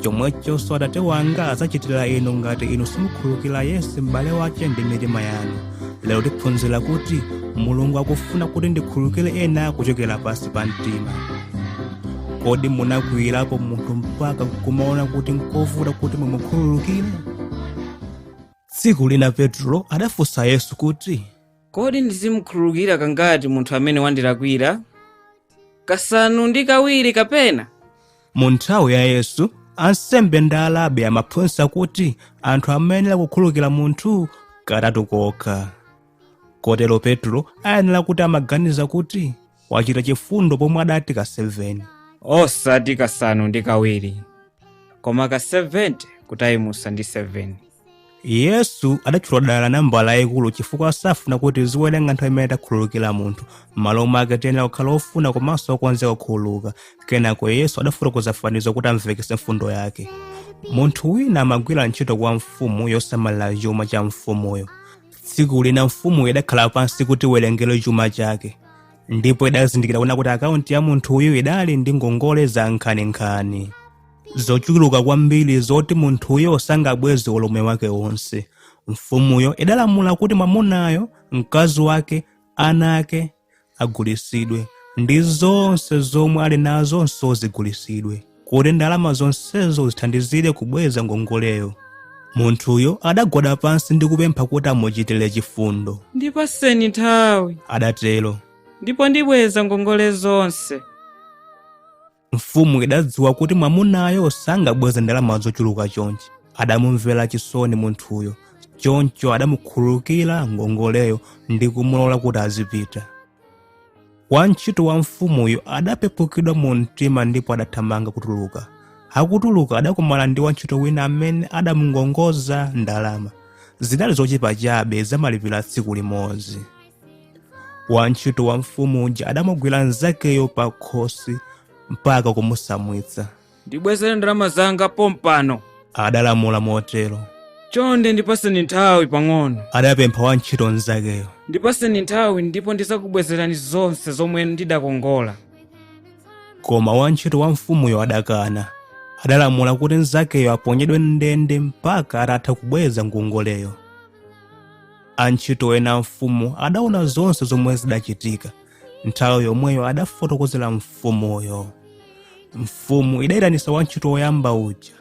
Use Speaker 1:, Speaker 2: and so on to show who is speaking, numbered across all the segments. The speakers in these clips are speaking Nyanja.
Speaker 1: chomwechonso atate wanga adzachitira inu ngati inu simukhulukira yense m'bale wace ndi mitima yanu lero tiphunzira kuti mulungu akufuna kuti tikhululukire ena kuchokera pansi pa mtima kodi munakwiyirapo munthu mpaka kumaona kuti nkovuta kuti mumukhululukire tsiku lina petro adafunsa yesu kuti Kodi ndizimukhululukira kangati munthu amene wandilakwira? Kasanu ndi kawiri kapena? Mu nthawi ya Yesu, ansembe ndi arabi amaphunzitsa kuti anthu amayenera kukhululukira munthu katatu kokha. Kotero Petro ayenera kuti amaganiza kuti wachita chifundo pomwe adati ka 7 osati kasanu ndi kawiri koma ka 70 kutayimuza ndi 7 yesu adatchula dala nambala yayikulu chifukwa safuna kuti tiziwerenga nthawi imene takhululukira munthu m'malo mwake tiyenera kukhala ofuna komanso okonzeka kukhululuka kenako yesu adafotokoza fanizo kuti amvekese mfundo yake munthu wina amagwira ntchito kwa mfumu yosamalira chuma cha mfumuyo tsiku lina mfumuyo idakhala pansi kuti iwerengere chuma chake ndipo idazindikira kuona kuti akaunti ya munthuyu idali ndi ngongole za nkhaninkhani zochuluka kwambiri zoti munthuyo sangabweze moyo wake wonse mfumuyo idalamula kuti mwamunayo mkazi wake ana ake agulitsidwe ndi zonse zomwe ali nazonso zigulitsidwe kuti ndalama zonsezo zithandizire kubweza ngongoleyo munthuyo adagwada pansi ndi kupempha kuti amuchitire chifundo ndipatseni nthawi adatero ndipo ndibweza ngongole zonse mfumu idadziwa kuti mwamunayo sangabweze ndalama zochuluka chonchi adamumvera chisoni munthuyo choncho adamukhululukira ngongoleyo ndi kumulola kuti azipita wantchito wa mfumuyo adapepukidwa mu mtima ndipo adathamanga kutuluka akutuluka adakumana ndi wantchito wina amene adamukongoza ndalama zidali zochepa chabe zamalipiro a tsiku limodzi wantchito wa mfumu uja adamugwira mnzakeyo pa khosi mpaka kumutsamwitsa ndibwezere ndalama zanga pompano adalamula motero chonde ndipatseni nthawi pang'ono adapempha wantchito mnzakeyo ndipatseni nthawi ndipo ndizakubwezerani zonse zomwe ndidakongola koma wantchito wa mfumuyo adakana adalamula kuti mnzakeyo aponyedwe m'ndende mpaka atatha kubweza ngongoleyo Antchito ena a mfumu adaona zonse zomwe zidachitika. Nthawi yomweyo adafotokozera mfumuyo. Mfumu idayitanitsa wantchito woyamba uja.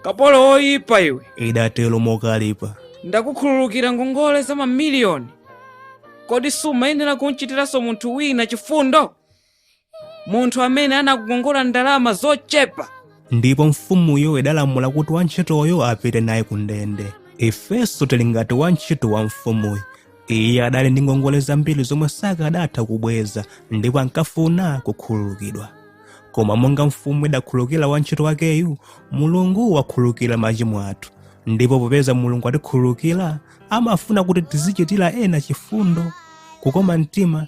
Speaker 1: kapolo woyipa iwe Idatero mokalipa. ndakukhululukira ngongole za mamiliyoni kodi sumayenera kumchitiranso munthu wina chifundo munthu amene anakukongola ndalama zochepa ndipo mfumuyo idalamula kuti wantchitoyo apite naye ku ndende ifenso tili ngati wantchito wa mfumuyo iye adali ndi ngongole zambiri zomwe sakadatha kubweza ndipo ankafuna kukhululukidwa koma monga mfumu idakhululukira wantchito wakeyu mulungu wakhululukira machimo athu ndipo popeza mulungu watikhululukira amafuna kuti tizichitira ena chifundo kukoma mtima